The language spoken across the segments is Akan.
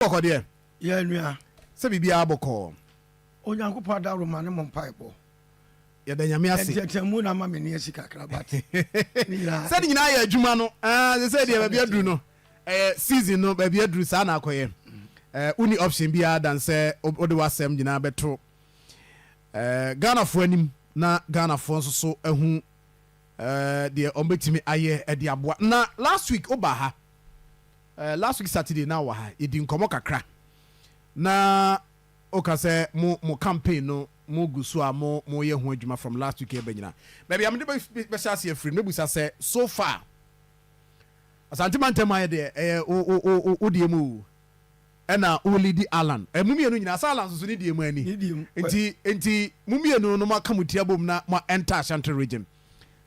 bɔkɔ deɛ. Yɛ nua. Sɛ biribiara bɔkɔɔ. Onyankopɔn adaworoma ne mo mpaebɔ. Yɛda Nyame ase. Nteateamu na ama me nne asi kakra but ne nyinaa. Sɛ ne nyinaa yɛ adwuma no, ah, sɛ sɛ deɛ baabi aduru no, ɛyɛ season no baabi aduru saa na akɔyɛ. Eh, wonni option biara dan sɛ wode w'asɛm nyinaa bɛto eh, Ghanafoɔ anim na Ghanafoɔ nso so ahu eh, deɛ wɔbɛtumi ayɛ de aboa. Na last week woba ha Eh last week Saturday na ɔwɔ ha yɛdi nkɔmɔ kakra na oka sɛ mo mo campaign no mo gu so a mo mo yɛ ho adwuma from last week ɛba nyina baabi a mede bɛ hyɛ aseɛ afiri no mɛbusa sɛ so far Asante mantam ayɛ deɛ ɛyɛ wo wo wo wo wo deɛ mu oo ɛna wo leadi Allan eh mo mmienu nyina sɛ Allan soso ne deɛ mu ani nti nti mo mmienu no mo aka mo ti abom na mo enter Ashanti region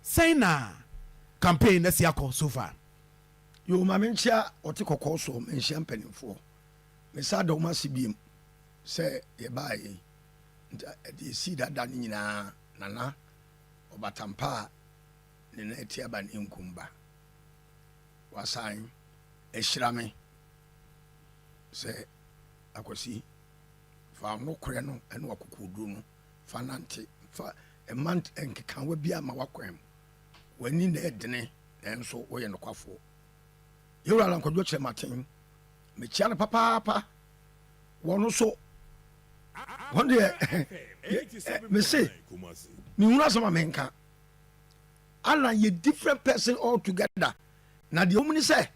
sɛn na campaign no asi akɔ so far. Yoo ma me nkyia ɔte kɔkɔɔ soɔ ma nhyia mpaninfoɔ me sa da ɔmo ase biom sɛ yɛ baa yɛ yi nti ɛde ɛsii dada no nyinaa nana ɔbatampa a ne na ɛte aba ne nkum ba wasan ahyira me sɛ akwasi fa ɔno korɛ no ɛne wakokoɔduro no fa nante fa ɛma nkekawa bi ama wakwan mu W'ani na ɛdene, nanso woyɛ nokwafoɔ. Yɛwura na nkwadwo kyerɛ m'aten. Mekyia no papaapa. Wɔn nso, wɔn deɛ, mese, menhunu asɛm a menka. Alan yɛ different person altogether. Na deɛ wɔn ni sɛ,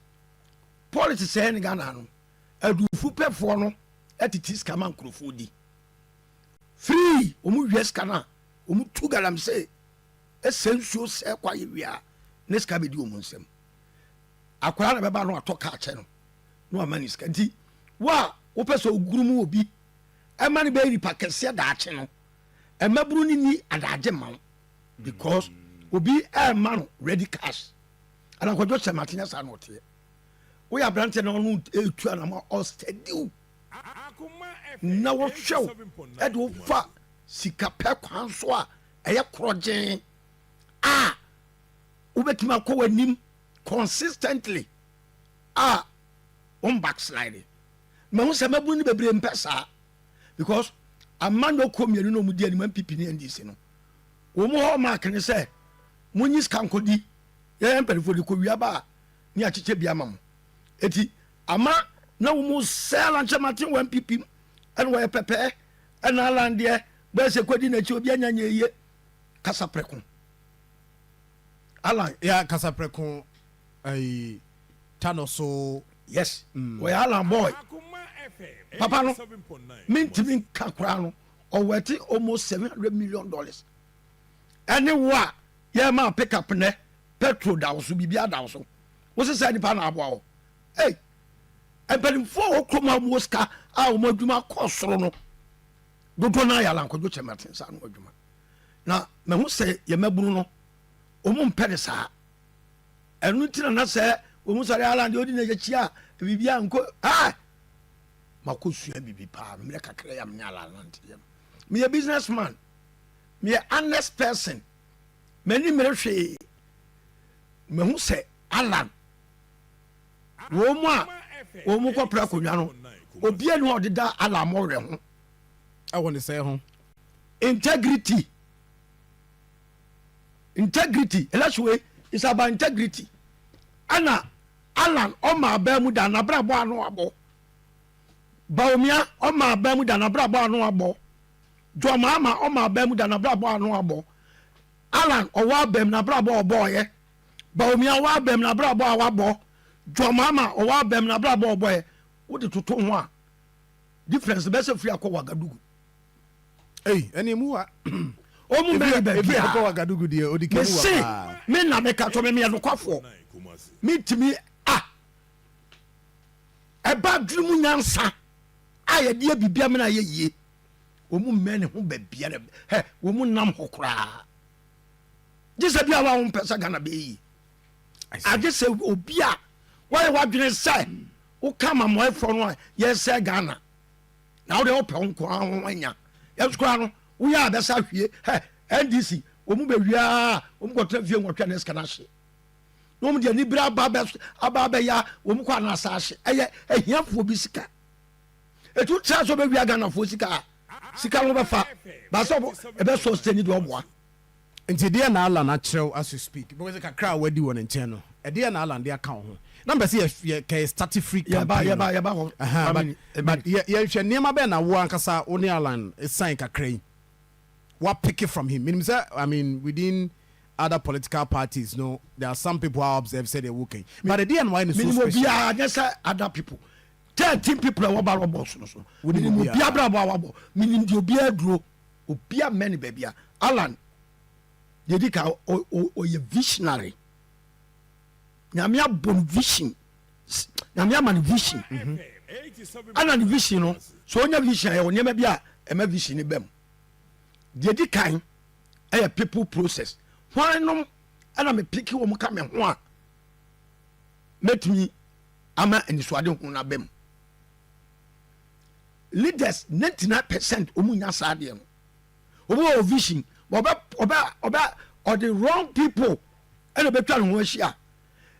politics sɛɛ ne Ghana no, adufo pɛfoɔ no titi sika ma nkurɔfoɔ di. Free wɔn wia sika no a, wɔn tu galamsey. Sɛ nsuo sɛɛ kɔ ayɛ wie a, ne sika bɛdi wɔn nsam. Akwadaa na bɛba na watɔ kaa kyɛ no na wama ne sika. Nti wo a wopɛ sɛ ogurum obi ɛma no bɛyɛ nipa kɛseɛ daakye no, mmabunu no nni adaagye mma wo because obi ɛrema no ready cash. Ɛna nkwadwo hyɛ mate nyɛ saa na ɔteɛ. Woyɛ aberanteɛ na ɔno ɛretu anama ɔstadi wo na wɔhwɛ wo ɛde wofa sika pɛ kwan so a ɛyɛ korɔgyeen a wobɛtumi akɔ w'anim consistently a wɔn backslide mahu sɛ mabunu no bebree mpɛ saa because ama no kɔ mmienu na wɔn di anim npp ne ndc no wɔn mu hɔ mark ne sɛ mo nyi sika nkɔdi yɛyɛ mpanimfoɔ de kɔ wia ba a ne akyekyɛ bi ama mo eti ama na wɔn sɛ lankyɛ maten wɔ npp mu ɛna wɔyɛ pɛpɛɛ ɛna alandeɛ Bɛɛ sɛ kɔdi n'akyi obi anya nyɛ yie kasa prɛko Alan. Yeah kasa prɛko ɛyi ta no so. Yes mm. Ɔyɛ Alan boy papa no mentimi nka koraa no ɔwɛte almost seven hundred million dollars ɛne wo a yɛma pick up nɛ petrol da wo so biribi ada wo so wo sɛ sɛ nipa na aboa wo ei mpanimfoɔ a wɔkurom a wɔwɔ sika a wɔn adwuma kɔ soro no Dodoɔ no ara yɛ alankwadwo kyɛ me atensa ano adwuma. Na mahu sɛ yɛn mmabunu no, wɔn mpɛ ne saa. Ɛno nti na na sɛ wɔn sɔre Alan deɛ ɔdi na yɛkyi a biribi a nko ah makɔ sua biribi paa no mmerɛ kakra yam ne Alan nante yam. Meyɛ business man, meyɛ honest person, m'ani mmere hwee. Mahu sɛ Alan Wɔn a wɔn kɔ pra akonnwa no, obiara nni hɔ a ɔde da Allah mmɔwerɛ ho wɔ ne sɛe ho. Integrity. Integrity. Election wei is about integrity. Ɛna Alan ɔma abaa mu da n'abrabɔ ano abɔ. Baomia ɔma abaa mu da n'abrabɔ ano abɔ. Jɔmaama ɔma abaa mu da n'abrabɔ ano abɔ. Alan ɔwɔ abam n'abrabɔ ɔbɔɔyɛ. Baomia ɔwɔ abam na abrabɔ a wabɔ Dwamama ɔwɔ abam na abrabɔ a ɔbɔɛ wode toto ho a difference bɛsɛ firi akɔ Wagadugu ei ɛne mu wa ɔmu mɛne baabi a Wagadugu deɛ ɔdi kɛmu wa paa mese me na meka tɔ me meyɛ nokwafoɔ metumi a ɛba adwene mu nyansa a yɛde abibia mena yɛ yie ɔmu mɛne ho baabiara hɛ wɔmu nam hɔ koraa gye sɛ bia wa wompɛ sɛ ghana bɛyɛ yie agye sɛ obi a woayɛ w'adwene sɛ woka amammoɛfoɔ no a yɛsɛ ghana na wode wopɛ wo nkoa ho anya yɛnso koraa no woyɛ a bɛsa hwie hɛ ndc wɔn mu bɛwiaa wɔn kɔtena fie nwɔtwɛ ne sika no ahye na wɔn deɛ anibere aba abɛya wɔn kɔ anaasa ahye ɛyɛ ahiafoɔ bi sika Etu tra sɛ ɔbɛwia Ghanafoɔ sika a, sika no bɛfa. Ba sɛ ɛbɛ sustain deɛ ɔboa. Nti deɛ na Allan akyerɛw as you speak? Because kakra a wadi wɔ ne nkyɛn no, ɛdeɛn na Allan de aka wo ho? Na mpɛ sɛ yɛ kɛ starte free campaign no. Yɛba hɔ. Ɛhɛn, but yɛnhwɛ nneɛma bɛn na wo ankasa wo ne Allan sign kakra yi, wa pick from him? Menim sɛ, I mean, within other political parties no, there are some people a observe sɛdeɛ woka yi, but ɛdeɛn na wayɛ no so special? Menim obiara, nyɛ sɛ other people. thirteen people a wɔba lɔ bɔs no so menim obi abrabɔ a wabɔ menim deɛ obiara duro obi ammɛ ne baabi a alan deɛ di ka ɔyɛ visionary nyame abɔ no vision nyame ama no vision ana mhm. ne vision no so ɔnya vision ayɛ wɔ nneɛma bi a ɛma vision no bam deɛ di kan ɛyɛ people process hwan nom ɛna mepeke wɔ mu ka me ho a mɛtumi ama anisoadehu no aba mu. Leaders ninety nine percent wɔn nya saa adeɛ no. Wɔn wɔ vision, wɔbɛ wɔbɛ wɔbɛ ɔde wrong people ɛna bɛtwa ne ho ahyia.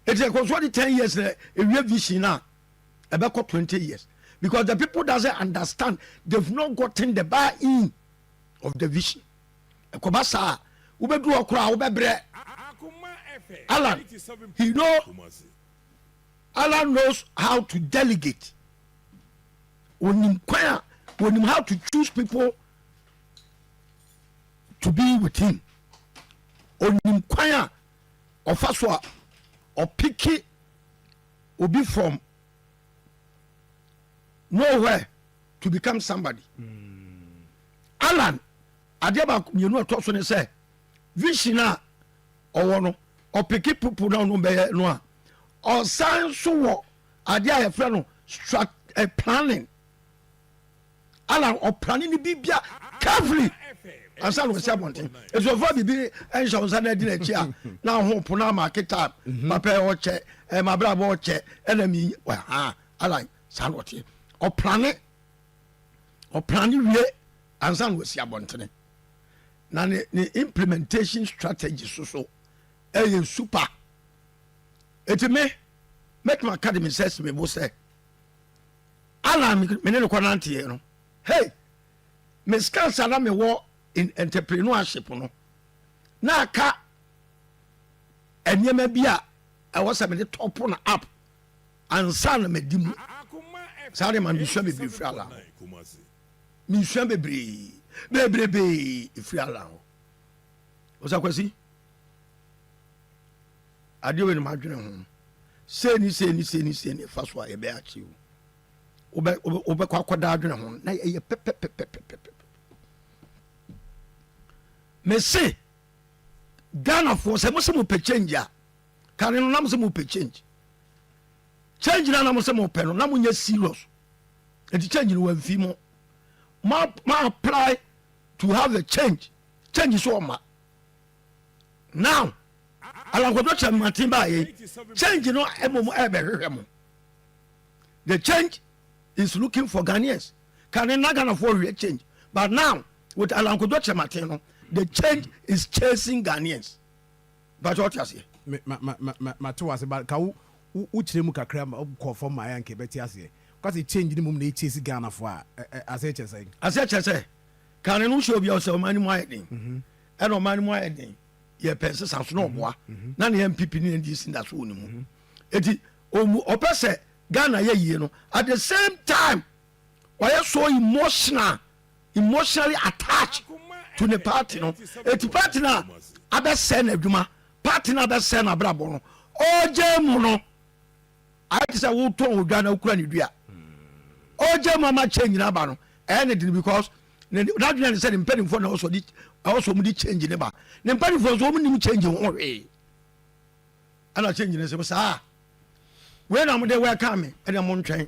Eti ɛkɔ so ɔde ten years na ewie vision na ɛbɛkɔ twenty years because the people doesn't understand they've not gotten the buy in of the vision. Ɛkɔba saa wobɛduru hɔ koraa wobɛbrɛ. Alan, you know, Allah knows how to delegate onim kwan a onim how to choose people to be with him onim kwan a ɔfa so a ɔpeke obi from nowhere to become somebody alan adeɛ baako mmienu a ɛtɔ so ne sɛ vision a ɔwɔ no ɔpeke pupu na ɔno bɛyɛ no a ɔsan nso wɔ adeɛ a yɛfrɛ no strat eh, planning ala ɔplane no biribia carefully ansa na ɔsi abɔnten ɛti ɔfa biribi nhyɛ wo nsa no adi no akyi a na ho po no amaake time mhm. mapɛ ɔkyɛ eh, mabrabɔ ɔkyɛ ɛna mi ha ala saa na ɔteɛ ɔplane ɔplane wie ansa na ɔsi abɔntene na ne ne implementation strategy so so ɛyɛ super eti me mɛtuma ka de me nsa si me bo sɛ alan me ne ne kɔ nanteɛ no hey me scans a na me wɔ in entrepreneurship no na aka nneɛma bi a ɛwɔ sɛ me de tɔpo na app Ansa na madi mu. Saa de ma mesua bebree firi Allah hɔ. Mesua bebree bebrebee firi Allah hɔ. Osakwasi, adeɛ wei no madwene ho. Sei ni sei ni sei ni sei ni fa so a yɛbɛyɛ akye o. Wobɛkɔ akɔda adwene ho na ɛyɛ pɛpɛpɛpɛpɛpɛ. Mese Ghanafoɔ sɛ mo sɛ mo pɛ change a kane no na mo sɛ mo pɛ change. change na na mo sɛ mo pɛ no na mo nyɛ serious nti change no wɔmfi mo ma ma apply to have a change change so ɔma now alankɔdɔ kyɛn maten baayɛ change no ɛmɔ mo ɛbɛhwehwɛ mo the change is looking for Ghanaians kane na Ghanafoɔ hwehwɛ change but now with alankɔdɔ kyɛn maten no the change is chasing Ghanaians. Bakyɛ ɔte aseɛ? Me ma ma ma ma mate wase but ka wo wo kyerɛ mu kakra ma kɔ fam ma ayɛ anka ɛbɛte aseɛ. Woka sɛ change no mmom na ɛkyase Ghana foɔ a ɛ ɛ aseɛ kyɛ sɛn? Aseɛ kyɛ sɛ kane no wohyɛ obi a ɔsɛ ɔman no mu ayɛ den ɛna ɔman no mu ayɛ den yɛ pɛ nsesa so na ɔboa na ne NPP ne NDC da so wɔ ne mu eti ɔmu ɔpɛ sɛ Ghana yɛ yie no at the same time wayɛ so emotional emotionally attached to ne party no eti party no a abɛsɛe n'adwuma party no a abɛsɛe n'abrabɔ no ɔgya mu no ayɛ te sɛ wotɔn odwa na wokura ne dua ɔgya mu ama change no aba no ɛyɛ ne den because n'adwene ne sɛ ne mpanimfoɔ na ɔsɔ de ɔsɔ wɔn de change ne ba ne mpanimfoɔ nso wɔn nim change ho hwee ɛna change ne sɛ saa wei na wɔn de welcome me ɛna wɔn ntwɛn.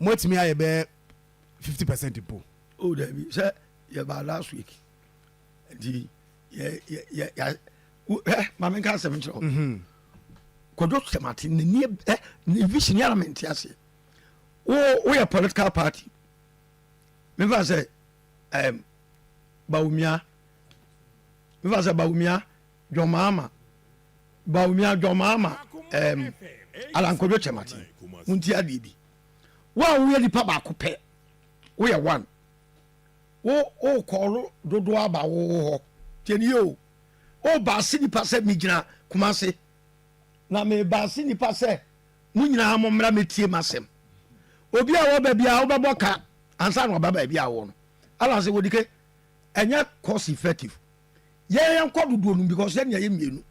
moatumi ayɛ bɛɛ fifty percent mpo. o oh, dabi sɛ yɛba last week nti yɛ maame nka asɛm nkyerɛ wo mhm. kɔdwo sɛmate nani eh, ne vision yɛ na mente aseɛ woyɛ political party mefa sɛ bawumia mefa sɛ bawumia John Mahama, Bawumia John Mahama ɛɛm Alan Kwadwo Kyerematen, montie adeɛ bi. Wo a woyɛ nipa baako pɛ, woyɛ one, wo wokɔɔlo dodoɔ aba wo wo hɔ, tiɛnie o, o baase nipa sɛ megyina Kumase, na me baase nipa sɛ mo nyinaa mo mmra mɛtie m'asɛm. Obi a wɔba biara wobɛbɔ ka ansa na ɔba baabi a wowɔ no. Alan sɛ wɔdike, ɛnyɛ cost effective. yɛn yɛn kɔ dodoɔ no because yɛn yɛ yɛ mmienu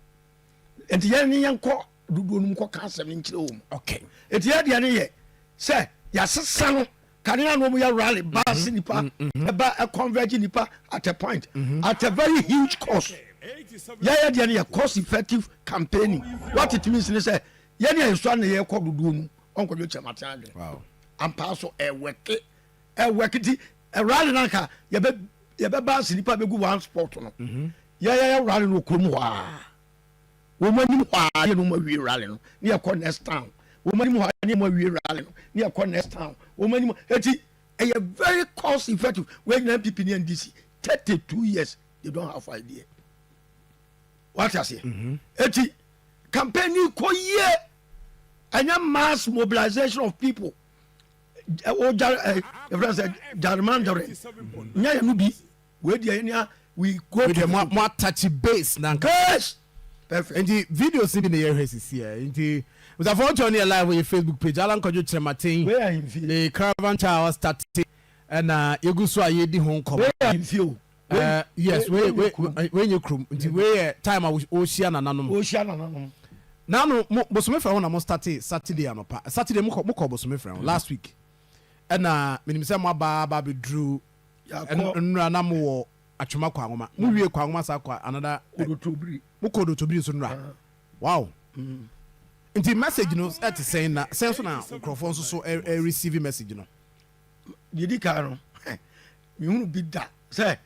nti yɛn ne yɛn kɔ dodoɔ no mu kɔ ka asɛm no nkyerɛ wɔn okay nti yɛ deɛ no yɛ sɛ yɛasesa no kanea no wɔn yɛ rally mm-hmm. baasi nipa mm-hmm. ɛba mm-hmm. converge nipa at a point at a very huge cost yɛ yɛ deɛ no yɛ cost effective campaigning what it means ne sɛ yɛn yɛ nsɔ ne yɛ kɔ dodoɔ no wɔn kɔ dwe kyɛm ate adwene ampaa so ɛwɛke. Ɛ work nti rally no anka yɛbɛ yɛbɛba ase nipa bɛgu one spot no mhm. yɛyɛyɛ rally no wɔ kurom hɔ a wɔn anim hɔ a yɛ no wɔn awie rally no ne yɛkɔ next town wɔn anim hɔ a ne wɔn awie rally no ne yɛkɔ next town wɔn anim eti ɛyɛ very cost effective wɔn nyinaa npp ne ndc thirty two years they don't have idea wate aseɛ mhm. eti campaign yi kɔ yie ɛnyɛ mass mobilization of people. o ja ɛ yɛfrɛ sɛ jarmandɔre nya yɛ no bi wei deɛ yɛn a we go wei deɛ mo atachi base na nka base perfect nti videos bi na yɛhwɛ sisi ɛ nti musafo ɔtɔ ne yɛ live wɔ yɛ facebook page alan kwadwo kyerɛmaten wei ahemfie ne caravan cha ɔstate ɛna yɛgu so a yɛdi ho nkɔmɔ wei ahemfie o Eh, yes wei wei wei nye kurom nti wei yɛ time a wɔhyia nananom wɔhyia nananom nanu mo bosome fira ho na mo starte saturday anɔpa saturday mo kɔ mo kɔ bosome fira ho last week ɛna menim sɛ mo aba aba abɛduru nnura na mo wɔ atwema kɔ anwoma mo wie kɔ anwoma saa kɔ anada mo kɔ dotobiri nso nnura wow mm. nti message no ɛte sɛn na sɛn so na nkurɔfoɔ nso so ɛreceive message no Deɛ ɛdi kan no, mehunu bi da sɛ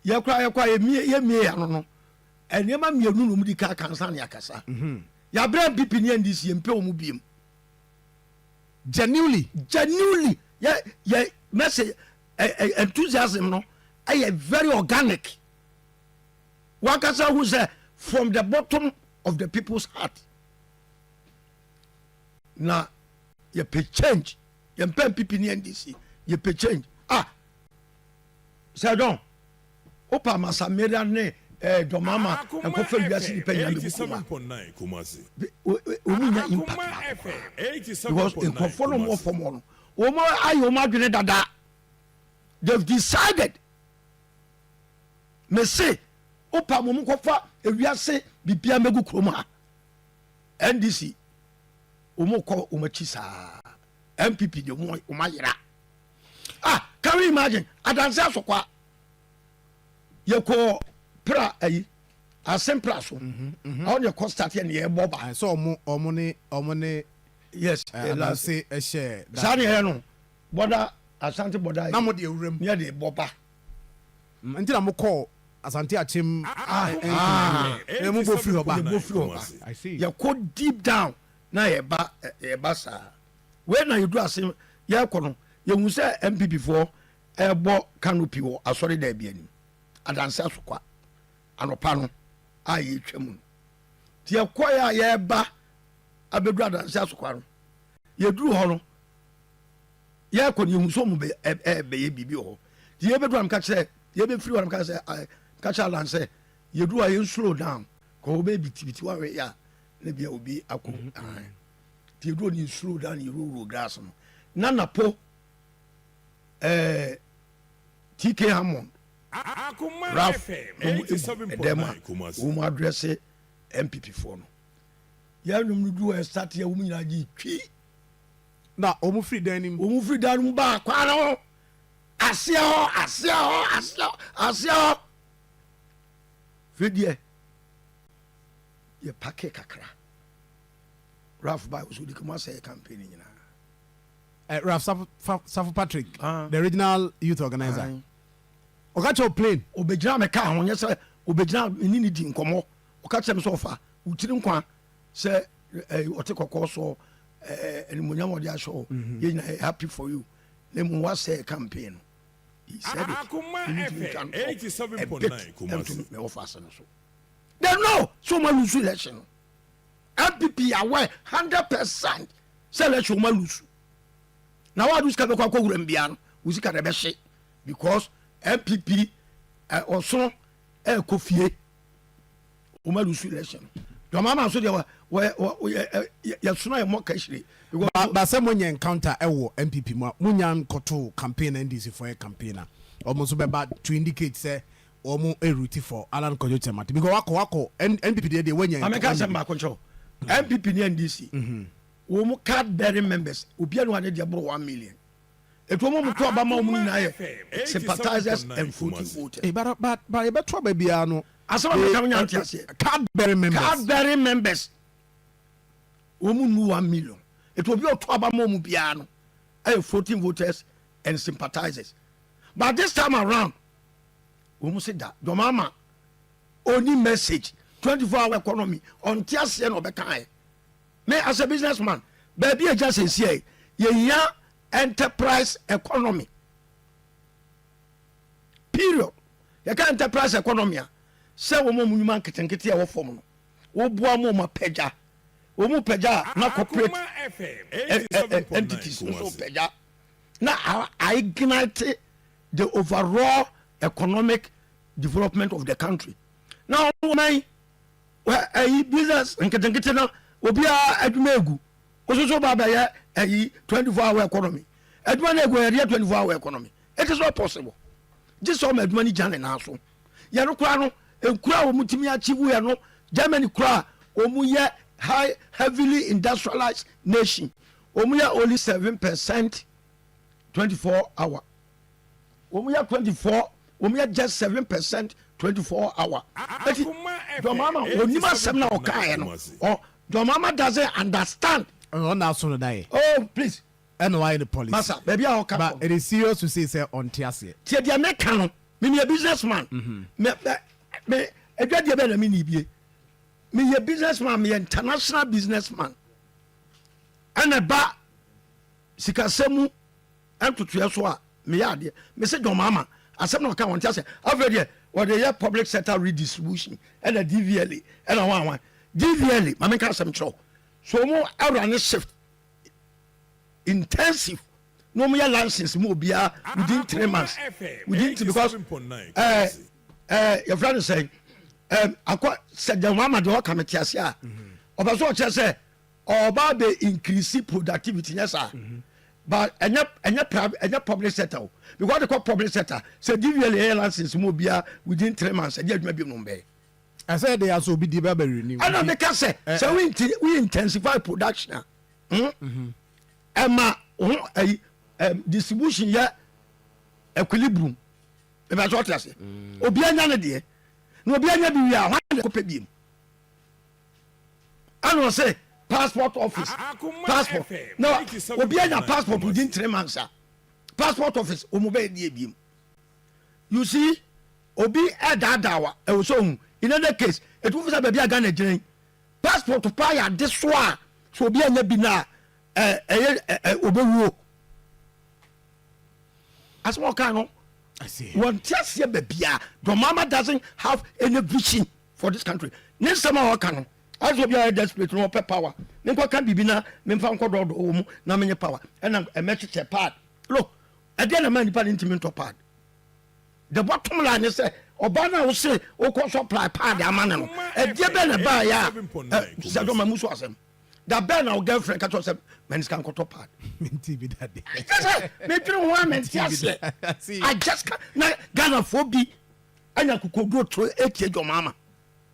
yɛkora yɛkɔ a yɛmmie yɛ ano no nneɛma mmienu na ɔmudi ka aka nsa ne akasa mhm. yɛabrɛ mpp ne ndc yɛmpɛ wɔ mu biem genuinely genuinely yɛ yɛ message enthusiasm no ɛyɛ very organic wankasa hu sɛ from the bottom of the people's heart na yɛpɛ change yɛn pɛ npp ne ndc yɛ pɛ change ah sɛ john wo pa ma samira ne ɛɛ eh, dɔmama ɛnkɔ fɛ wiase nipa nyinaa bɛ bu kuma wɔn nyɛ impact baako koraa because nkurɔfoɔ no wɔn fɔm wɔn wɔn ayɛ wɔn adwene dada they have decided me se wo pa ma wɔn kɔ fa ewiase bibia mɛgu kurom ha ndc. Wɔn kɔ wɔn akyi saa. NPP deɛ wɔn wɔn ayera. Ah can we imagine adanse asokwa yɛ kɔ pra ayi asen pra so. Mhm, mhm. Awo deɛ kɔ start yɛ ne yɛ bɔ ba. Ayi sɛ wɔn wɔn ne wɔn ne. Yes eh, adanse ɛhyɛ. Saa ne yɛ no bɔda asante bɔda yi. Na mo deɛ wuram. Ne yɛ de bɔ ba. Nti na mo kɔɔ Asante Akyem. Aah mo bɔ firi hɔ ba. Yɛ bɔ firi hɔ ba. I see. Yɛ kɔ deep down na yɛ ba yɛ ba saa. Wei na yɛ duru ase yɛ kɔ no yɛ hu sɛ NPP foɔ ɛɛbɔ canopy wɔ Asɔre dan bi anim. Adanse Asokwa. Anɔpa no a yɛ twa mu no. Nti yɛ kɔ yɛ a yɛ ba abɛduru Adanse Asokwa no. Yɛ duru hɔ no. Yɛkɔ no yɛhu sɛ ɔmo bɛ ɛ ɛ bɛyɛ biribi wɔ hɔ nti yɛbɛduru a meka kyerɛ yɛbɛfiri hɔ a meka sɛ ɛ meka kyerɛ Alan sɛ yɛduru a yɛn slow down kɔ hɔ bɛyɛ bitibiti wahwɛ yɛ a na bia obi akɔ mu ahan nti yɛduru hɔ no yɛ slow down yɛwurawura grass no na napo ɛɛ TK Hammond Ralph na ɔmo egu ɛdɛm a wɔn adrɛse MPP foɔ no yɛn nnwom no duru hɔ yɛ start yɛ wɔn nyinaa gye twi Na wɔn firi dan no mu. Wɔn firi dan no mu baa kwan no ho aseɛ hɔ, aseɛ hɔ, aseɛ hɔ, aseɛ hɔ. Firi deɛ yɛ pake kakra. Ralph baa wɔsɔ odika mu asɛ yɛ campaign nyinaa. Eh, Ralph Safo, Safo Patrick, ah. the original youth organizer. Ah. ɔka kyerɛ plane ɔbɛgyina me kaa ho nyɛ sɛ ɔbɛgyina mene ne di nkɔmmɔ ɔka kyerɛ me sɛ ɔfa wokyiri nkwa sɛ eh, ɔte kɔkɔɔ soɔ eh, animonyam ɔde ahyɛ hɔ mhm. yɛ nyina happy for you na mmom wasɛ campaign no he said it ɛntumi twa no ɛbit ɛntumi mɛwɔ fa ase no so they know so ma lose election no mpp aware hundred percent sɛ election ma lose na wàá dùn sika bɛ kɔ akɔ wura mbia no wò sika na ɛbɛ hye because mpp ɔsono ɛkɔ fie. wɔn alusu election dɔm ama nso deɛ wɔ wɔ wɔ yɛ yɛsona yɛ mɔ kɛhyire. ba ba sɛ monyɛ encounter ɛwɔ npp mu a monya nkɔto campaign na ndc fo yɛ campaign a wɔn nso bɛba to indicate sɛ wɔn eruti for alan kwadwo kyɛmate because wakɔ wakɔ npp deɛ deɛ wɔnya. maame ka asɛm baako nkyɛw npp ne ndc wɔn card bearing members obiara ne wɔn ade deɛ boro one million. Ɛtoa mu a, wɔto aba ma wɔn nyinaa yɛ sympathizers and voting voters. But but but yɛbɛto aba biara no. Asɛm a meka no nya nte aseɛ. Cadbury members. Cadbury members. Wɔn mu nnu one million. Ɛti obi a ɔto aba ma wɔn biara no ɛyɛ voting voters and sympathizers. But this time around wɔn se da John Mahama ɔni message twenty four hour economy ɔnte aseɛ na ɔbɛka ayɛ. Me as a business man baabi agya sɛsiɛ yɛhia enterprise economy period yɛka enterprise economy a sɛ wɔn a wɔn nnwuma nketenkete a ɛwɔ fam no woboa mu wɔn apagya wɔn pagya na corporate entities nso pagya na ignite the overall economic development of the country na wɔn Wɔ ɛyi business nketenkete no obiara adwuma egu wososo ba bɛyɛ ɛyi 24 hour economy adwuma no egu yɛde yɛ 24 hour economy it is not possible gye sɛ ɔma adwuma no gya ne nan so yɛ no koraa no nkura a wɔn tumi achieve yɛ no Germany koraa wɔn yɛ high heavily industrialized nation wɔn yɛ only seven percent 24 hour. Wɔn yɛ twenty four wɔn yɛ just seven percent twenty four hour. Eti John Mahama onim asɛm na ɔkaeɛ no ɔ John Mahama doesn't understand. Ɔno na aso no da yɛ. Oh please. Ɛna wayɛ ne policy. Masa baabi a ɔka kɔ. But it is serious to say sɛ ɔnte aseɛ. Tie deɛ me ka no me meyɛ business man me me me adwadeɛ bɛ na me ni bie meyɛ business man meyɛ international business man ɛna ba sikasɛm mu. Ntotoeɛ so a meyɛ adeɛ. Me se John Mahama asɛm na ɔka wɔnte aseɛ afei deɛ wɔde yɛ public sector redistribution ɛna DVLA ɛna hwan hwan DVLA ma menka asɛm kyerɛ wo so ɔmo awura ne shift intensive na ɔmo yɛ license mu obiara within three months within three because ɛɛ eh, ɛɛ eh, yɛfrɛ no sɛn ɛɛ eh, akɔ sɛ John Mahama deɛ ɔka me te aseɛ a ɔbɛ so ɔkyerɛ sɛ Ɔba abɛ increase productivity nyɛ saa but ɛnyɛ ɛnyɛ private ɛnyɛ public sector o because de kɔ public sector sɛ dvl yɛ license mu obia within three months ɛdi adwuma bi mu bɛyɛ. ɛsɛ ɛde asɔ obi di bɛbɛ renew. ɛna ne ka sɛ sɛ wo nti wo intensify production a hmm? ɛma ho ɛyi distribution yɛ equilibrium ɛbɛ sɛ ɔte ase obi anya ne deɛ na obi anya bi wie a hwan na ɛkɔpɛ biem. ɛna ɔsɛ passport office passport na obi anya passport within three months a passport office wɔn bɛyɛ deɛ ebiem you see obi ɛdaadaa wa ɛwɔ sɛ ohun in other case etu fisa baabi a ghana gyina yi passport paa yɛ ade so a so obi anya bi na ɛ ɛyɛ ɛ ɛ obewuo asem ɔkan no wɔn ti aseɛ baabi a dɔmama doesn't have any vision. for this country ne nsɛm a ɔka no as obi a ɔyɛ desperate no ɔpɛ power me nkɔ ka biribi na me nfa nkɔ dɔɔdɔɔ wɔ mu na menye power ɛna ɛmɛ kyekyɛ pad look ɛdeɛ na ma nipa ne ntumi ntɔ pad the bottom line ne sɛ ɔbaa no a wose wokɔ so apply pad ama no no ɛdeɛ bɛn na ɛbaa yɛ a sɛ dɔ ma mu so asɛm da bɛn na wo girlfriend ka kyerɛ sɛ mɛne sika nkɔtɔ pad kyɛ sɛ medwene ho a mente aseɛ i just ka na ghanafoɔ bi ɛna akokoduro to etie John Mahama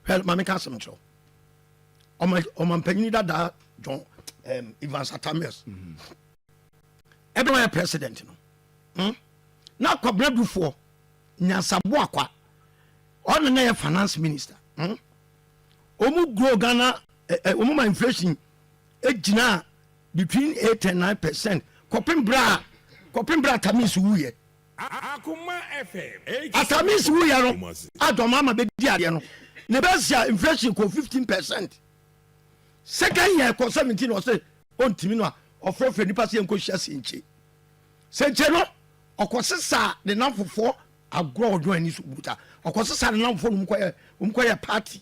hwɛ maame ka asɛm nkyerɛw ɔma ɔma mpanyin dadaa John um, Evans Atamius mm-hmm. ɛbɛn wɔyɛ president no hmm? na akɔbena dufoɔ nyansabo akwa ɔna na yɛ finance minister hmm? ɔmu grow Ghana ɔmu eh, eh, ma inflation egyina eh, between eight and nine percent kɔpem bra kɔpem bra Atamius wuyɛ. Assamese wuyɛ no adɔ ma ama bɛdi adeɛ no ne bɛsia inflation kɔɔ 15 percent second year ɛkɔɔ 17 ɔse ɔntimi no a ɔfrɛfrɛ nipa sɛ yɛnkɔ hyia senkye senkye no ɔkɔ sesaa ne namfofoɔ agorɔ ɔdɔn ani so buta ɔkɔ sesaa ne namfofoɔ no ɔmkɔyɛ party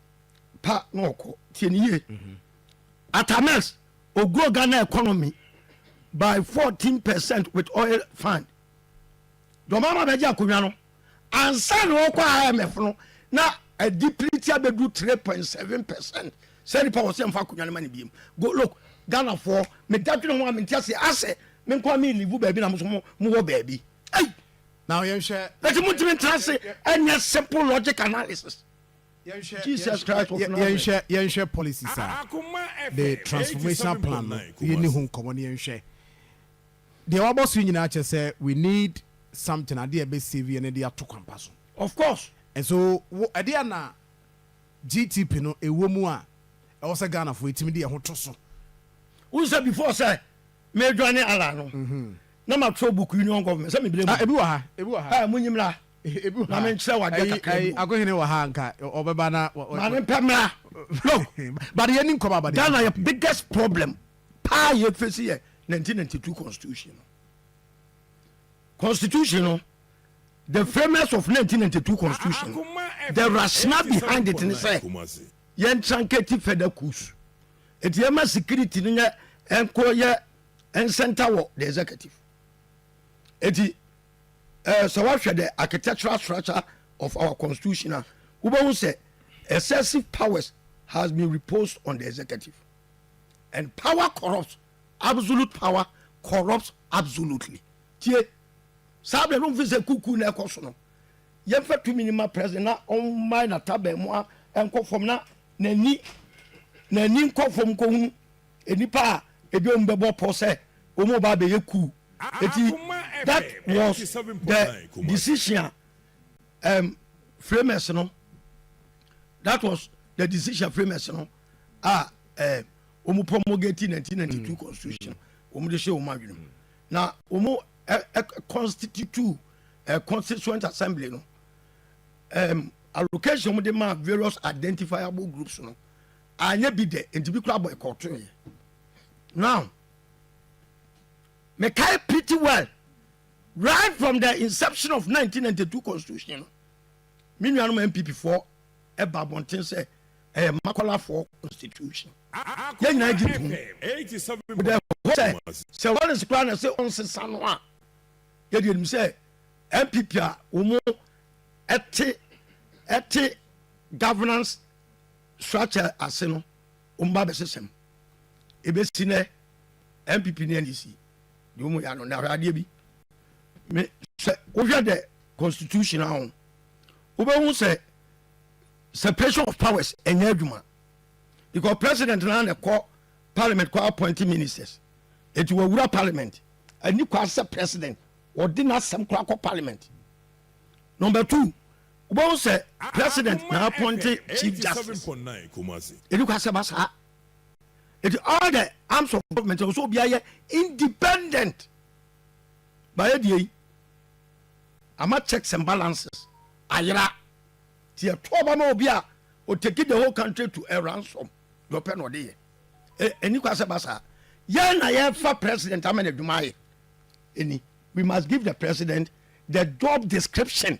pa na ɔkɔ tie ne yie atamex ogrow ghana economy by fourteen percent with oil fund dɔma ma bɛgye akonnwa no ansa na ɔkɔ imf no na ɛdi piriti abɛdu three point seven percent sɛ nipa wɔ sɛ nfa akonnwa no ma ne biem go look ghana foɔ meda dwene ho a mente ase asɛ me nkɔ a me livu baabi na mo so mo wɔ baabi ei na yɛnhwɛ ɛti mo ntumi ntra ase ɛnyɛ simple logic analysis Yɛnhwɛ policies a the transformational plan no yɛni ho nkɔmmɔ no yɛnhwɛ deɛ wabɔ so nyinaa kyɛ sɛ we need something adeɛ a ɛbɛ save yɛn na ɛde ato kwampa so. Of course. Nso wo ɛde a na GTP no ɛwɔ mu a ɛwɔ sɛ Ghana fo ɛtumi de ɛho to so. Wohu sɛ before sɛ mɛdwane Allah no na matwerɛ book Union Government sɛ mebrɛ mu. Ebi wɔ ha, ebi wɔ ha. Mo nyimra. Ma me nkyerɛ wo adeɛ kakra bi o. Akohene wɔ ha anka ɔbɛba na. Ma ne mpɛ mmra. Look. But yɛ ni nkɔmɔ abade. Ghana yɛ biggest problem paa yɛ fesi yɛ 1992 constitution no. Constitution no the framers of 1992 constitution the rationale behind it ne sɛ yɛn tranketi fɛda kus eti yɛn ma security no yɛ ɛnkɔ yɛ ɛnsɛnta wɔ the executive eti. Eh, sɛ woahwɛ the architectural structure of our constitution a wobɛhu sɛ excessive powers has been reposed on the executive and power corrupts absolute power corrupts absolutely tie saa berɛ no mfi sɛ kuku na ɛkɔ so no yɛmfa tumi no ma president na ɔmmae nataban mu a ɛnkɔ fam na n'ani n'ani nkɔ fam nkɔhunu Nnipa a ebi wɔn bɛbɔ pɔ sɛ wɔn ba abɛyɛ kuw. Eti that was the decision a um, framers no that was the decision framers no a um, wɔn promulgate 1992 constitution wɔn de hyɛ wɔn adwene mu na wɔn constitute uh, constituent assembly no um, allocation wɔn de ma various identifiable groups no Anyɛ bi dɛ nti bi koraa boycott yɛ now me kae pretty well right from the inception of 1992 constitution no me nuanom npp foɔ ɛba abɔnten sɛ ɛyɛ makɔlafoɔ constitution yɛn nyinaa gye tom wodɛ hɔ sɛ sɛ wɔresi koraa na sɛ ɔnsesa no a yɛde anim sɛ npp a wɔn ɛte ɛte governance Soakyɛ ase no, wɔn ba bɛhyehyɛ mu. Ebesi nnɛ, NPP ne NDC de wɔn yɛ ano. Na hwɛ adeɛ bi, me, sɛ wohwɛ the constitution a ho, wobɛhu sɛ separation of powers ɛnyɛ adwuma. Because president no ara na ɛkɔ parliament kɔ appointing ministers. Eti wɔawura parliament. Ani kwa sɛ president wɔde n'asɛm koraa kɔ parliament. Number two, Wobɛhu sɛ president na appointe chief justice. Ɛni kwa sɛ ɛba saa. Eti all the arms of government ɛwɔ sɛ obiara yɛ independent. Baayɛ deɛ yi ama checks and balances ayera ti ɛto ɔba ma obi a o take the whole country to a ransom deɛ ɔpɛ na ɔde yɛ ɛni kwa sɛ ɛba saa. Yɛn na yɛfa president ama na adwuma ayɛ ɛni we must give the president the job description.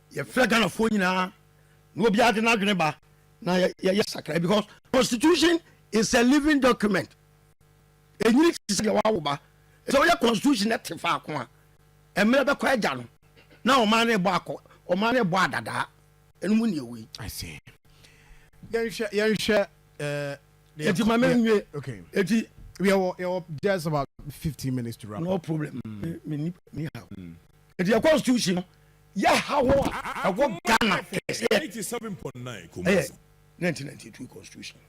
Yɛfrɛ Ghanafoɔ nyinaa na obiara de n'adwene ba na yɛyɛ sakra because constitution is a living document. Enyini te sɛ deɛ wawo ba. Sɛ woyɛ constitution na te faako a, mmerɛ bɛkɔ agya no na ɔman no bɔ akɔ ɔman no bɔ adadaa. Ɛno mu nea wei. I see. Yɛnhwɛ yɛnhwɛ ɛɛ. Eti ma me nwie. Okay. Eti. Yɛwɔ yɛwɔ just about fifteen minutes to wrap. No problem. Mm. Me ni ni ha. Mm. Ɛdeɛ constitution no yɛ haw a ɛwɔ Ghana kɛseɛ ɛyɛ 1992 constitution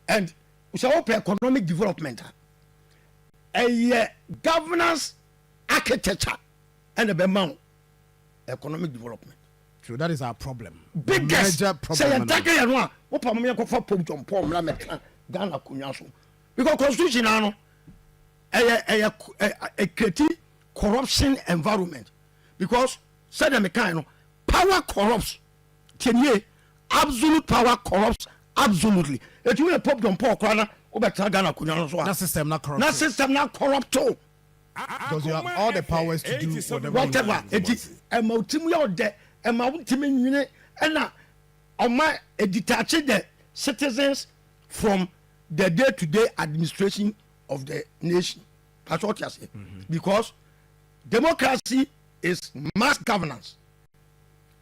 and sɛ wopɛ economic development a ɛyɛ governance architecture ɛna ɛbɛma wo economic development So that is our problem. Biggest sɛ yɛn take yɛn no a wopɛ mo yɛnkɔfa pop John Paul mmra mɛka Ghana konwa so because constitution ano ɛyɛ ɛyɛ ɛkreti corruption environment because sɛdeɛ mekae no power corrupts tiɛnie absolute power corrupts absolutely ɛtumi yɛ pop john paul koraa na wobɛtena ghana akonnwa no so a na system na corrupt na system na corrupt o because you have all the powers to do whatever, whatever. ɛti ɛma wotim yɛ ɔdɛ ɛma wontimi nwene ɛna ɔma ɛditaakye the citizens from the day to day administration of the nation pakyɛ ɔte aseɛ mm-hmm. because democracy is mass governance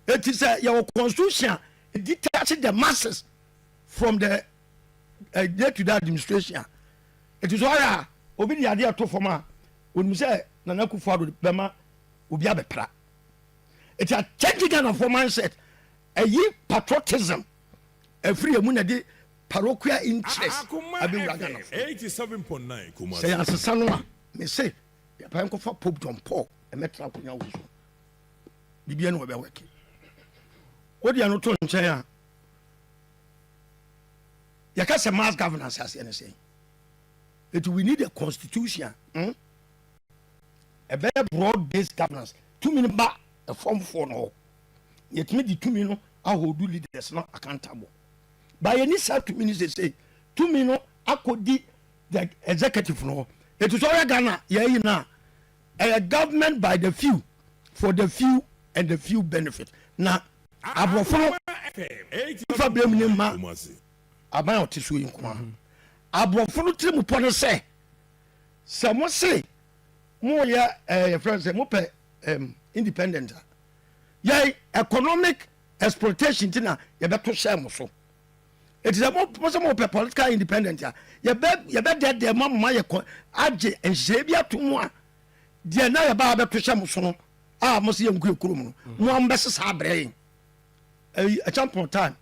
eti sɛ yɛwɔ constitution a e detach the masses from the uh, day to day administration eti sɛ ɔyɛ a obi de adeɛ to fam a onim sɛ nana akufo ado bɛma obi abɛpra eti a change ghana for mindset ɛyi patriotism ɛfiri emu na de. paroquial interest abɛwura Ghana fo mu. Sɛ yɛansesa no a, me se yɛpae nkɔfa Pope John Paul mmɛtra akonya wei so. Biribiara ne wɔbɛwɛke. Wode ɛno to nkyɛn a, yɛka sɛ mass governance aseɛ ne sɛn? Eti we need a constitution. Hmm? ɛbɛyɛ broad based governance tumi no ba ɛfɔmfoɔ no hɔ yɛtumi de tumi no ahodu leaders no accountable ba yɛni saa tumi no sesei tumi no akɔdi the executive no hɔ ɛti sɛ ɔyɛ ghana yɛayi no a ɛyɛ government by the few for the few and the few benefit na aborɔfo no fa berɛ mu ne ma aban a ɔte so yi nko a mm-hmm. aborɔfo no tiri mu pɔ no sɛ sɛ mo se moyɛ eh, yɛfrɛ sɛ mopɛ independent a yɛ economic exploitation nti na yɛbɛto hyɛɛ mo so ɛti sɛ mo sɛ mopɛ political independent a yɛbɛdɛdɛ ma moma yɛkɔ agye nhyehyɛe bi ato mu a deɛ na yɛbaa bɛto hyɛ mo so no a mo sɛ yɛnko yɛ kurom no mo a mobɛsesa abrɛ yɛn ɛkyampɔn time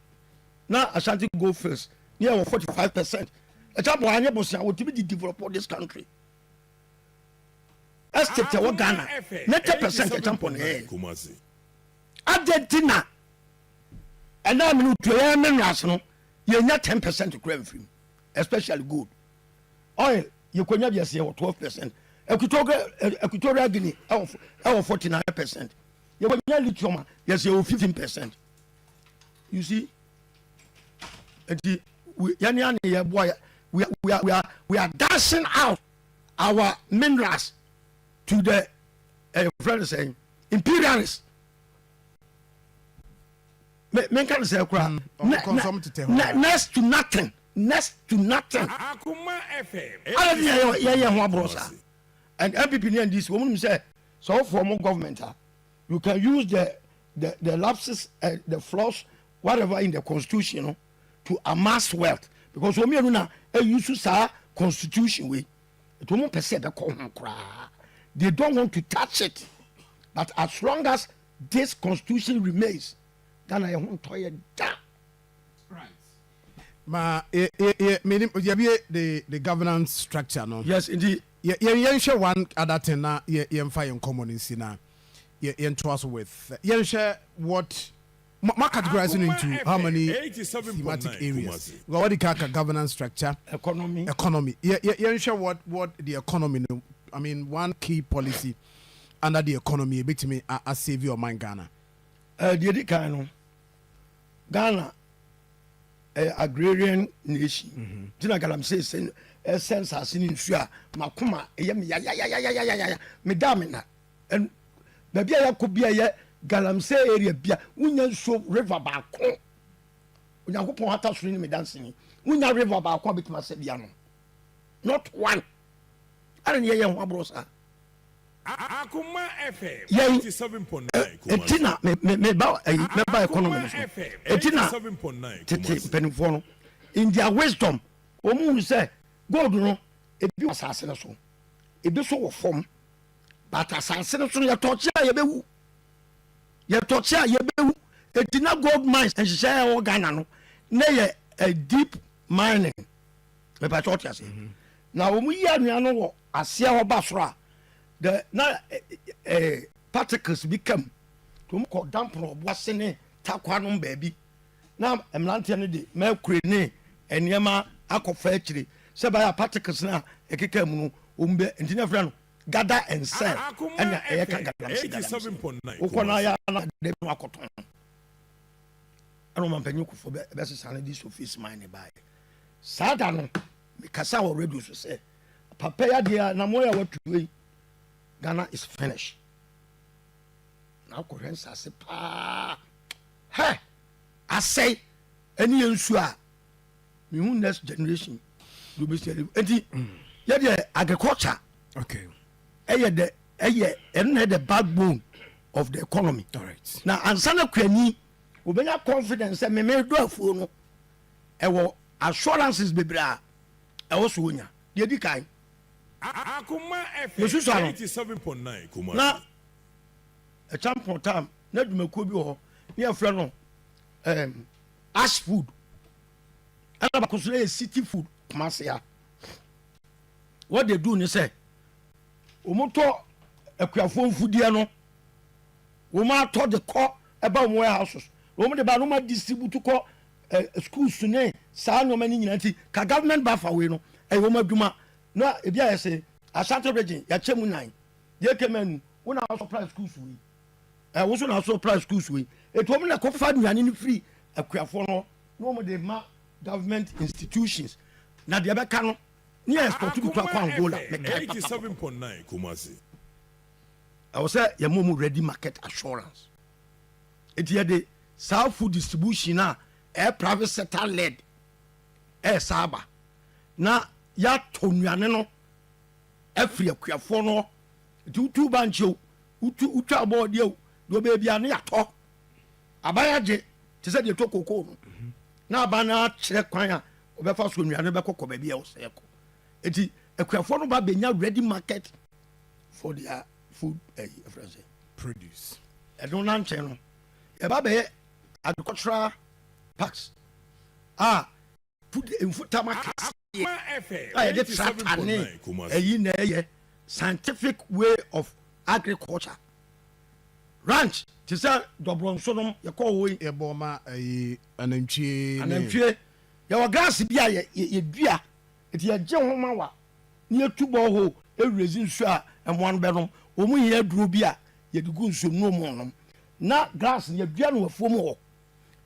na ashanti gold fields ne yɛwɔ 45 percent ɛkyampɔn anyɛ bosea wɔtumi de develop this country estate ɛwɔ ghana 90 percent ɛkyampɔn ɛyɛ Adɛn nti na ɛnnɛ a me ne wo tu yɛn minerals no yɛnya ten percent koraa mfiri mu especially gold oil yɛkɔnya bi ɛsɛ yɛwɔ twelve percent Equatorial Guinea ɛwɔ forty nine percent yɛkɔnya lithium a yɛsɛ yɛwɔ fifteen percent you see nti yɛne ane yɛboa yɛ we are, we are, we are, we are dashing out our minerals to the uh, friend saying imperialist me me nka ne sɛ kura mm, next to nothing next to nothing ala ni yɛ yɛ yɛ ho aborɔ sa and npp ni ndc wɔn nim sɛ sɛ wɔfɔ wɔn government a you can use the the the lapses and eh, the flaws whatever in the constitution no to amass wealth because wɔn mmienu na eyi eh, so saa constitution wei. Nti wɔn mpɛ sɛ ɛbɛkɔ ho koraa, they don't want to touch it but as long as this constitution remains Ghana yɛ ho ntɔ yɛ da. Ma yɛ yɛ yɛ menim yɛbie the the governance structure no. Yes nti. Yɛ yɛn yɛnhwɛ one other thing na yɛ yɛnfa yɛn nkɔmɔ no nsi na yɛ yɛntoa so with yɛnhwɛ what. Mo mo categorize no into how many thematic areas? Wa wadi kan aka governance structure, Economy. economy. Yɛ yɛ yɛnhwɛ what what the economy no, I mean one key policy under the economy a ebetumi a a save ɔman Ghana. Eh, deɛ edi kan no, Ghana ɛyɛ agrarian nation, nti na galamsey sɛ ɛsɛ nsaase ne nsuo a, m'akoma ɛyɛ me yayayayayayaya, meda a menna. And baabi a yɛakɔ bi a ɛyɛ galamsey area bi a wonya nsuo river baako onyankopɔn hata soro ne medanseni wonya river baako a bɛtumi asɛ bi ano not one ɛna ne yɛyɛ ho aborɔ saa yɛn ɛti na meba ayi mɛba economy no so ɛti na tete mpanimfoɔ no in their wisdom wɔn mu hunu sɛ gold no ebi wɔ asase no so ebi so wɔ fam But asase no so no yɛtɔ kye a yɛbɛwu. Yɛtɔ kye a yɛbɛwu. Eti na gold mines nhyehyɛ a ɛwɔ Ghana no na yɛ a eh, deep mining. Mepɛ sɛ ɔte aseɛ. Mhm. Na wɔn yi anwea no wɔ aseɛ hɔ ba soro a the na eh, eh, particles bi kam. Wɔn kɔ dampono ɔbo ase ne takwa nom baabi. Na mmeranteɛ no de mercury ne nneɛma akɔfa akyire sɛ ɛbɛyɛ a particles no a ɛkeka mu no wɔn bɛ nti na ɛfrɛ no gada and sell ɛna ɛyɛ ka galamsey galamsey wokɔ no ayɛ na de no akɔtɔn ɛna ɔma mpanyin kofo bɛ bɛsesa no de sofis man ne baayɛ saa da no mekasa wɔ radio so sɛ papa yi adeɛ a na mo yɛ watu yi Ghana is finish na akɔhwɛ nsase paa Hɛ! Asɛe! Ɛne yɛ nsuo a mehu next generation de obesi ɛde eti yɛ deɛ agriculture okay ɛyɛ dɛ ɛyɛ ɛno na ɛyɛ backbone of the economy right. na ansa na kuani obenya confidence sɛ meme do afuo no ɛwɔ assurances bebree a ɛwɔ so onya deɛ di kan mesusa no na Ɛkyampɔn Tam n'adwumakuo bi wɔ hɔ ne yɛfrɛ no um, Ash Food ɛna baako nso yɛ City Food Kumasi a what they do ne sɛ wɔn tɔ akuafoɔ mfudeɛ no wɔn atɔ de kɔ ɛba wɔn warehouses wɔn de ba no ma distribute kɔ eh, schools ne saa nneɛma no nyinaa nti ka government ba fa wei no ɛyɛ wɔn adwuma na ebi ayɛ sɛ Ashanti region yɛakyɛ mu nan Deɛ kɛ mɛ ni, wo na asɔ price schools wei. Ɛ wo so na asɔ price schools wei. Etu wɔn na kɔ fa nnuane no firi akuafoɔ no na wɔn de ma government institutions na deɛ ɛbɛka no ne yɛ export bi kɔ akɔ Angola. Mɛ kae papa. Ɛwɔ sɛ yɛ ma wɔn ready market assurance. Eti yɛ de saa food distribution a ɛyɛ private sector led ɛyɛ saa aba na yɛ atɔ nnuane no. afiri akuafoɔ no hɔ. Nti wotu bankye o, wotu wotwa abɔɔdeɛ o, deɛ ɔbɛyɛ biara ne yɛatɔ. Aban agye te sɛ deɛ ɛtɔ kokoo no. Na aban no akyerɛ kwan a ɔbɛfa so nnuane no bɛkɔ kɔ baabi a ɛwɔ sɛ ɛkɔ. Nti akuafoɔ no ba bɛnya ready market for their food ɛyi ɛfrɛ sɛ. Produce. Ɛno na nkyɛn no yɛba bɛyɛ agricultural parks a pude mfutam akɛseɛ a yɛde tractor ne ɛyi na ɛyɛ scientific way of agriculture ranch te sɛ dɔbrɔnso nom yɛkɔ hɔ yi yɛbɔ ma ɛyi anantwie anantwie yɛwɔ grass bi a yɛdua nti yɛgye ho ma wa ne yɛtu bɔ hɔ ɛwurɛzi nsuo a ɛmoa no bɛnom wɔn hia aduro bi a yɛde gu nsuo mu nom na grass yɛdua no afuo mu hɔ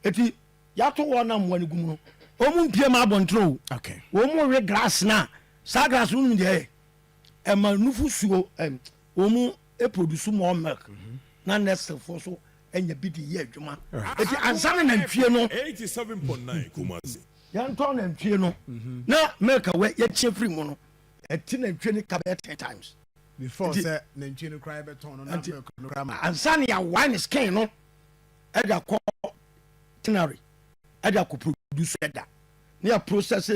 ɛti Yɛato wɔn a mmoa no gu mu no, wɔmpue mma abɔnten o, wɔnwe glass no a, saa glass no wonim deɛ ɛyɛ? Ɛma nufosuo, wɔproduce more milk mhm. na nursefoɔ so anya bi de yɛ adwuma. Ɛti ah. ansa na nantwie no yɛntɔn nantwie no mhm. na milk wɛ yɛkyɛ firi mu no, ɛti nantwie no ka bɛyɛ ten times. Before sɛ nantwie no koraa yɛbɛtɔn no na milk no koraa ma. Ansa na yɛawae ne skin no ɛde akɔ tannery ɛde akɔ produce ɛda ne yɛ process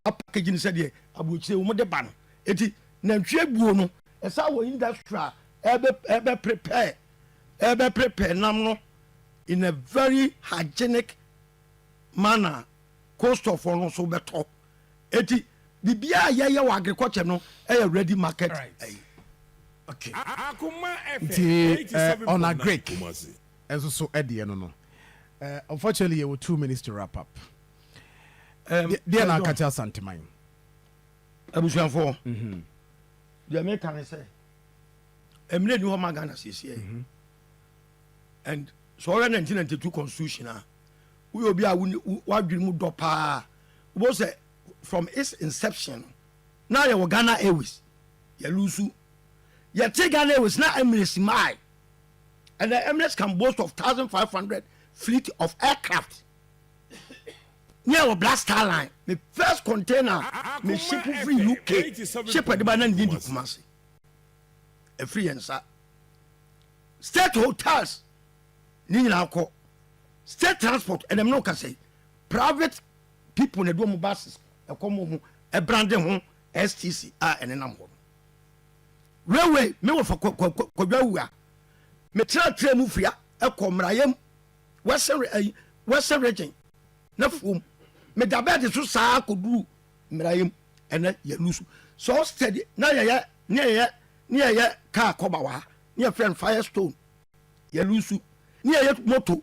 apakagi no sɛdeɛ aburokyire wɔn de ba no eti nantwie buo no ɛsa wɔ industry a ɛbɛ ɛbɛ prepare ɛbɛ prepare nam no in a very hygienic manner cost of wɔn nso bɛtɔ. Eti biribiara a yɛyɛ wɔ agriculture no yɛ ready market ɛyi. Okay. Nti eh, on agric nso so deɛ no no eh, unfortunately yɛwɔ two minutes to wrap up. Deɛ na akate asanteman. Abusuafoɔ. Mhm. Deɛ meka ne sɛ ɛmmerɛ ni hɔ ma Ghana siesie mhm. and sɛ ɔyɛ 1992 constitution a woyɛ obi a wadwene mu dɔ paa Wobɛhu sɛ from its inception no na yɛwɔ Ghana Airways, yɛ loosu. Yɛte Ghana Airways na Emirates mae. Ɛnɛ Emirates can boast of 1,500 fleet of aircraft. Ne yɛwɔ Black Star Line. Me first container me ship firi UK ship ɛde ba na ne din de Kumasi. Ɛfiri yɛn nsa. State hotels ne nyinaa kɔ. State transport ɛnam ne wo kasa yi. Private people na ɛde wɔn buses ɛkɔ wɔn ho ɛbrande ho STC a ɛnenam hɔ no. Railway me wɔ fa kwadwa awu a metrɛtrɛ mu fia ɛkɔ mmerayɛ mu western region na fuom meda bɛɛde so saa kɔduru mmerayɛ mu ɛnɛ yɛ lusu so steady na yɛyɛ ne yɛyɛ ne yɛyɛ kaa kɔba wɔ ha ne yɛfrɛ no firestone yɛ lusu ne yɛyɛ moto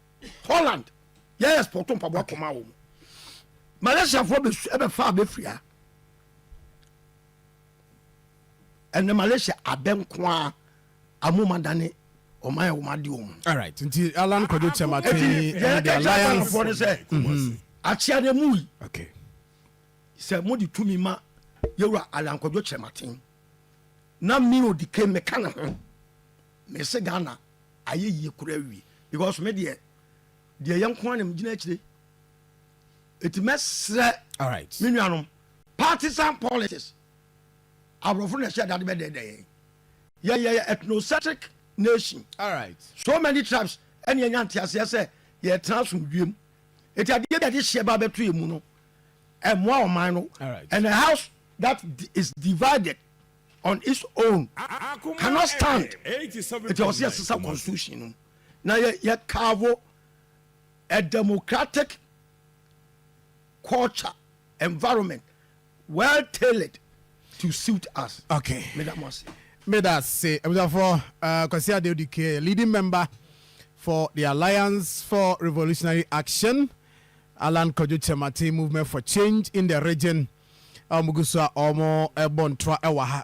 holland yɛ export mpaboa kɔma wɔn malaysiafoɔ bɛfa abɛfia ɛnɛ malaysia abɛ nko a amoma dane ɔman yɛ wɔn ade wɔn. alright nti alan kwadwo kyɛmate ɛnna the alliance. ɛnna sɛ mhm. akyia ne mu yi sɛ mo de tumi ma yɛwura alan kwadwo kyɛmate na mi ò di ke meka ne ho mɛ se ghana. Ayɛ yie koraa awie because me deɛ deɛ ɛyɛ nko ara na megyina akyire ɛti mɛsrɛ me nuanom partisan politics aborɔfo na ɛhyɛ adade bɛdɛɛdɛ yɛn yɛyɛ ethnocentric nation so many tribes ɛne ɛnya nteaseɛ sɛ yɛtena asomdwuam ɛti adeɛ bi a de hyeɛ ba bɛto yɛ mu no ɛmmoa ɔman no and a house that is divided on its own cannot stand nti ɔsɛ yɛsesa constitution no na yɛ carve a democratic culture environment well tailored to suit us. Okay. Meda mo ase. Meda ase. Abusuafoɔ uh, Kwasi Adeodi Kee, leading member for the Alliance for Revolutionary Action. Allan Kwadwo Kyerematen Movement for Change in the Region a wɔgu so a wɔrebɔ ntoa wɔ ha.